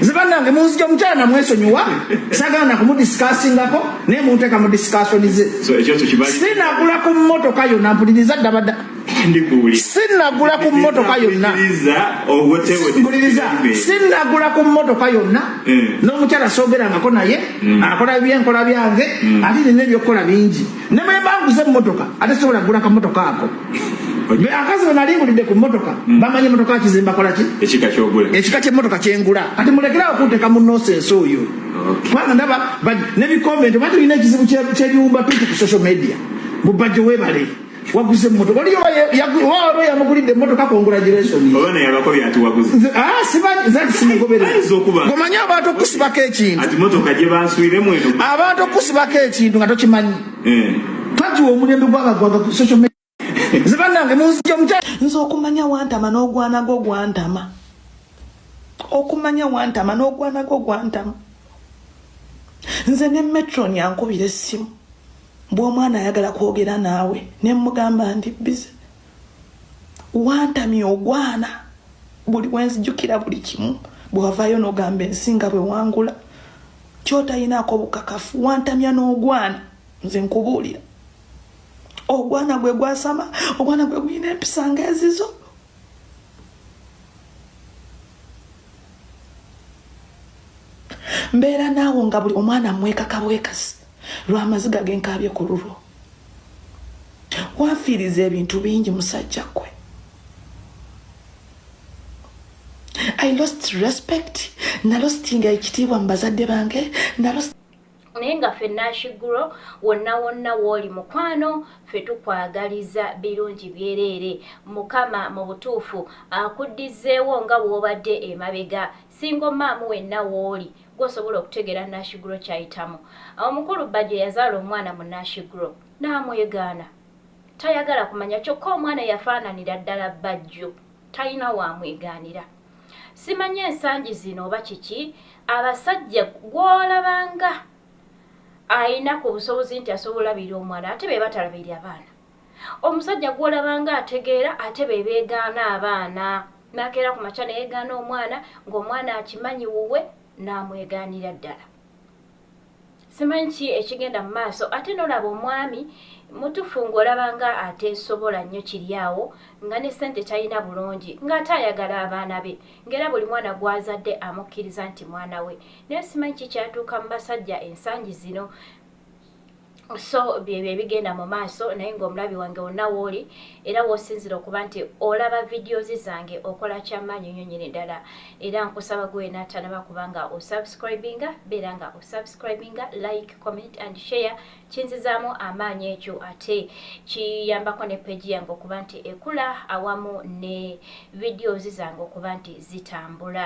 nze banange munzija omukyala namwesonyiwa sagala nakumudisikaasingako naye munteeka mu disikaasoni ze sinagula ku mmotoka yonna mpuliriza ddabadda sinagula ku mmotoka yonna sinagula ku mmotoka yonna eh. n'omukyala soogerangako naye hmm. akola byenkola byange hmm. ate nina ebyokukola bingi ne bwe mba nguze emmotoka ate sobola kugula kamotoka ako akazi we nali ngulidde ku mmotoka hmm. bamanyi emmotoka kizimba kola ki ekika ky'emmotoka kye ngula kati mulekerawo kunteeka mu nosensi oyo kubanga ndaba ne bikomenti oba tulina ekizibu ky'ebiwumba tuti ku social media mubajjo webale waguze emmotoka oliyo waba yamugulidde emmotoka congratulationsimanyi abantu okusibako ekintu Kimotoka gye bansuire mu eno. Abantu okusibako ekintu nga tokimanyi. Eh. Kati omulembe gw'abagwaga ku social media. Zibanange munzija omutya. Nze okumanya wantama n'ogwana gwo gwantama. Okumanya wantama n'ogwana gwo gwantama. Nze ne metron yankubira essimu. Bw'omwana ayagala kwogera naawe ne mmugamba ndi bize. wantamya ogwana buli wenzijukira buli kimu bwewavayo nogamba ensi nga bwewangula kyotayinaako obukakafu wantamya n'ogwana nze nkubuulira ogwana gwe gwasama ogwana gwe guyina empisa nga ezizo mbeera naawo nga buli omwana mwekaka bwekasi lwa maziga ge nkaabye ku lulwo wanfiiriza ebintu bingi musajja ggwe i lost respect nalostinga ekitiibwa mu bazadde bange nalost naye nga ffe nashiguro wonna wonna wooli mukwano ffe tukwagaliza birungi byereere mukama mu butuufu akuddizeewo nga bw'obadde emabega Single mom wenna wooli gwe osobola okutegeera Nash Grow kyayitamu. Omukulu Bbajjo yazaala omwana mu Nash Grow n'amwegaana. Tayagala kumanya kyokka omwana yafaananira ddala Bbajjo. Talina w'amwegaanira. Simanyi ensangi zino oba kiki, abasajja gw'olabanga alina ku busobozi nti asobola olabirira omwana ate be batalabirira baana. Omusajja gw'olaba ng'ategeera ate be beegaana abaana. N'akeera ku makya ne yeegaana omwana ng'omwana akimanyi wuwe n'amwegaanira ddala. Simanyi ki ekigenda mu maaso ate n'olaba omwami mutufu ng'olaba ng'ateesobola nnyo kiri awo nga ne ssente talina bulungi ng'ate ayagala abaana be ng'era buli mwana gw'azadde amukkiriza nti mwana we. Naye simanyi ki kyatuuka mu basajja ensangi zino. So byebyo ebigenda mu maaso naye ng'omulabi wange wonna wooli era w'osinzira okuba nti olaba videos zange okola kyamaanyi nnyo nyini ddala era nkusaba gwe wena atanaba kubanga osubscribinga beera nga osubscribinga like comment and share kinzizaamu amaanyi ekyo ate kiyambako ne peji yange okuba nti ekula awamu ne videos zange okuba nti zitambula